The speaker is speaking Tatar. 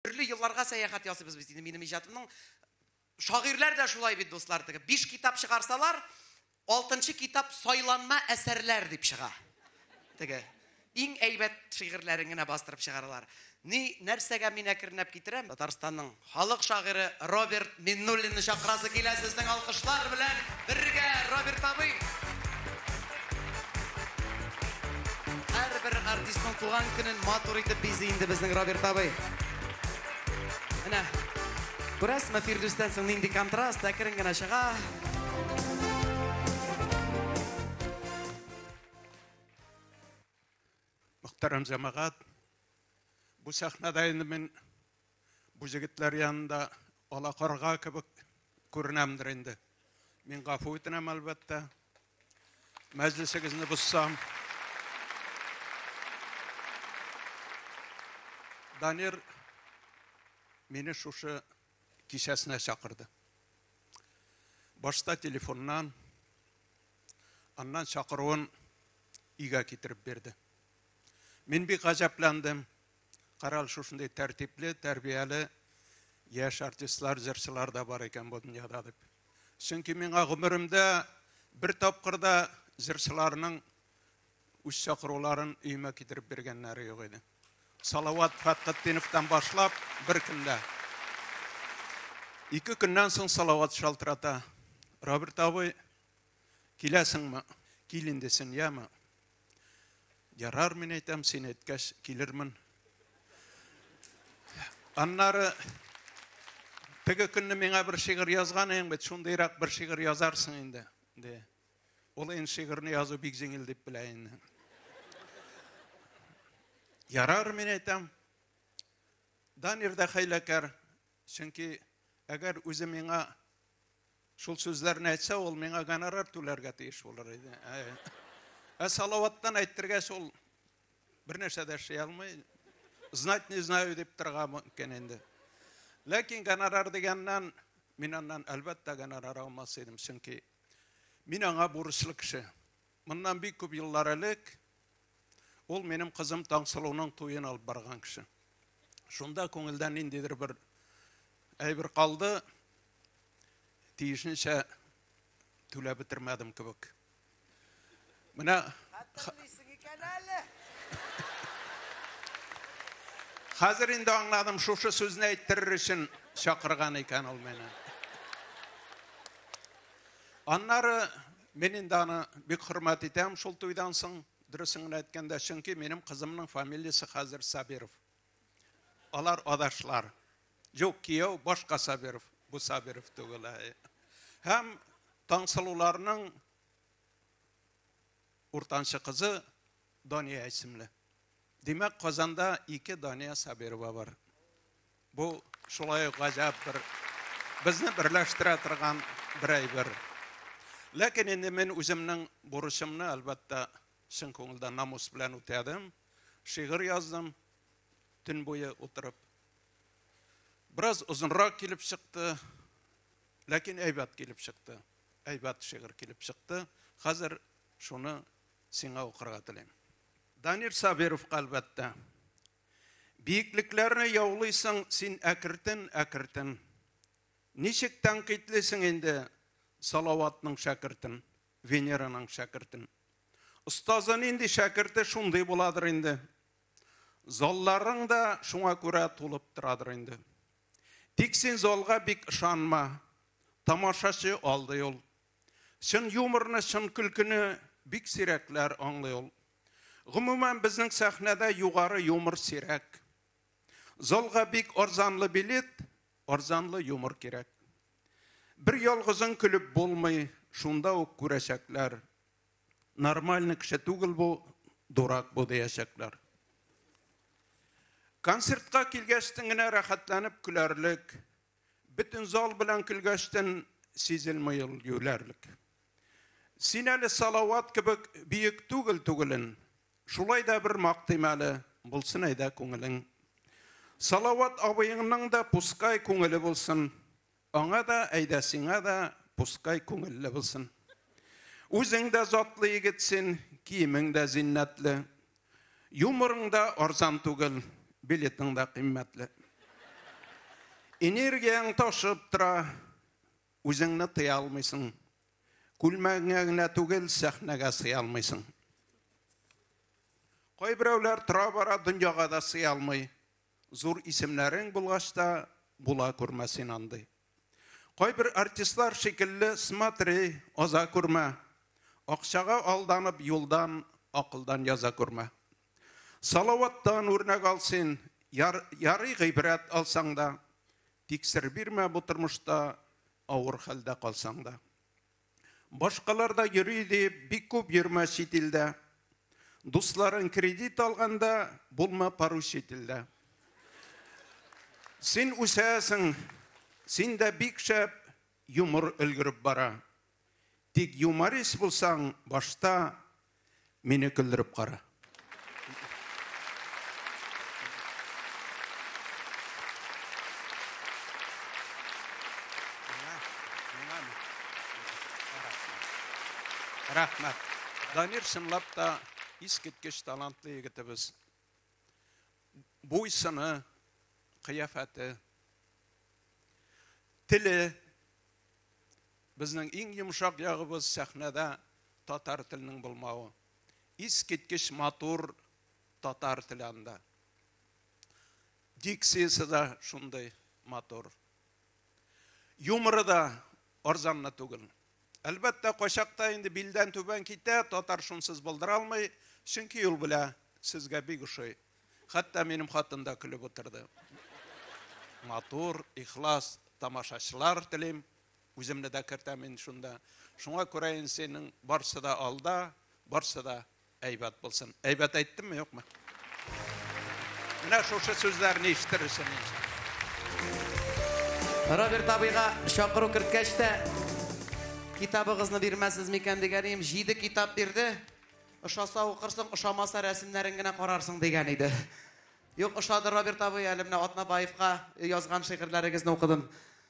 Төрле елларга сәяхәт ясыйбыз без инде минем иҗатымның. Шагыйрьләр дә шулай бит, дуслар, теге 5 китап чыгарсалар, 6 китап сайланма әсәрләр дип чыга. Теге иң әйбәт шигырьләрен генә бастырып чыгаралар. Ни нәрсәгә мин әкренләп китерәм? Татарстанның халык шагыйре Роберт Миннуллинны чакырасы килә сезнең алкышлар белән бергә, Роберт абый! Һәрбер артистның туган көнен матур итеп бизи инде безнең Роберт абый. Менә, күрәсезме, Фирдүстән соң нинди контраст, әкрен генә чыга. Мөхтәрәм җәмәгать, бу сәхнәдә инде мин Бу җегетләр янында ала карга кебек күренәмдер инде. Мин гафу үтенәм, әлбәттә. Мәҗлесегезне бозсам. Данир мине шушы кичәсенә чакырды. Башта телефоннан, аннан чакыруын өйгә китереп бирде. Мин бик гаҗәпләндем. Карал шушындый тәртипле, тәрбияле яшь артистлар, җырчылар да бар икән бу дөньяда дип. Чөнки миңа гомеремдә бер тапкыр да җырчыларның үз чакыруларын өемә китереп биргәннәре юк иде. Салават Фәтхетдиновтан башлап бер кемдә. Ике көннән соң Салават шалтырата. Роберт абый, киләсеңме? Кил инде син, яме. Ярар, мин әйтәм, син әйткәч, килермен. Аннары теге көнне миңа бер шигырь язган идең бит, шундыйрак бер шигырь язарсың инде, ди. Ул ин шигырьне язу бик җиңел дип белә инде. Ярар, мин әйтәм. Данир да хәйләкәр, чөнки әгәр үзе миңа Шул сүзләрне әйтсә, ул миңа гонорар түләргә тиеш булыр иде. Ә Салаваттан әйтергә шул бер нәрсә дә эшли алмый. Знать не знаю дип торга мөмкин инде. Ләкин гонорар дигәннән мин аннан әлбәттә гонорар алмас идем, чөнки мин аңа бурычлы кеше. Моннан бик күп еллар элек ул минем кызым Таңсылуның туен алып барган кеше. Шунда күңелдән ниндидер бер әйбер калды, тиешенчә түләп бетермәдем кебек. Менә Хәтерлисең икән әле. Хәзер инде аңладым, шушы сүзне әйттерер өчен чакырган икән ул мине. Аннары Мин инде аны бик хөрмәт итәм шул туйдан соң, дөресен генә әйткәндә, чөнки минем кызымның фамилиясе хәзер Сабиров. Алар адашлар. Юк, кияү башка Сабиров, бу Сабиров түгел. Һәм Таңсылуларның уртанчы кызы Дания исемле. Димәк, Казанда ике Дания Сабирова бар. Бу шулай ук гаҗәп бер, безне берләштерә торган бер әйбер. Ләкин инде мин үземнең бурычымны, әлбәттә, чын күңелдән намус белән үтәдем. Шигырь яздым төн буе утырып. Бераз озынрак килеп чыкты, ләкин әйбәт килеп чыкты. Әйбәт шигырь килеп чыкты. Хәзер шуны сиңа укырга телим. Данир Сабировка, әлбәттә, Биеклекләрне яулыйсың син әкертен, әкертен. Ничек тәнкыйтьлисең инде Салаватның шәкертен, Венераның шәкертен. Остазы нинди шәкерте шундый буладыр инде. Залларың да шуңа күрә тулып торадыр инде. Тик син залга бик ышанма. Тамашачы алдый ул. Чын юморны, чын көлкене бик сирәкләр аңлый ул. Гомумән, безнең сәхнәдә югары юмор сирәк. Залга бик арзанлы билет, арзанлы юмор кирәк. Бер ялгызың көлеп булмый, шунда ук күрәчәкләр. Нормальный кеше түгел бу, дурак бу диячәкләр. Концертка килгәчтен генә рәхәтләнеп көләрлек, Бөтен зал белән көлгәчтен сизелми ул юләрлек. Син әле Салават кебек биек түгел түгелен. Шулай да бер мактыйм әле, булсын әйдә күңелең. Салават абыеңның да пускай күңеле булсын. Аңа да, әйдә сиңа да пускай күңелле булсын. Үзең дә затлы егет син, киемең дә зиннәтле. Юморың да арзан түгел, билетың да кыйммәтле. Энергияң ташып тора, үзеңне тыя алмыйсың. Күлмәгеңә генә түгел, сәхнәгә сыя алмыйсың. Кайберәүләр тора-бара дөньяга да сыя алмый. Зур исемнәрең булгач та, була күрмә син андый. Кайбер артистлар шикелле смотри, аза күрмә. Акчага алданып юлдан, акылдан яза күрмә. Салаваттан үрнәк ал син, яр, ярый гыйбрәт алсаң да, тик сер бирмә бу тормышта, авыр хәлдә калсаң да. Башкалар да йөри диеп бик күп йөрмә чит илдә. Дусларың кредит алганда, булма пару чит илдә. Син үсәсең, синдә бик шәп юмор өлгереп бара. Тик юморист булсаң, башта Мине көлдереп кара. Рәхмәт. Данир чынлап та искиткеч талантлы егетебез. Буйсыны, кыяфәте, теле Безнең иң йомшак ягыбыз сәхнәдә татар теленең булмавы. Искиткеч матур татар теле анда. Дикциясе дә шундый матур. Юморы да арзанны түгел. Әлбәттә, качакта инде билдән түбән китә, татар шунсыз булдыра алмый, чөнки ул белә, сезгә бик ошый. Хәтта минем хатын да көлеп утырды. Матур, ихлас тамашачылар телим. Үземне дә кертәм мин шунда. Шуңа күрә инде синең барсы да алда, барсы да әйбәт булсын. Әйбәт әйттемме, юкмы? Менә шушы сүзләрне ишетерсең инде. Роберт абыйга чакыру керткәч тә, китабыгызны бирмәсез микән дигәнем, җиде китап бирде. Ошаса укырсың, ошамаса рәсемнәрен генә карарсың дигән иде. Юк, ошады Роберт абый, әле менә Атнабаевка язган шигырьләрегезне укыдым.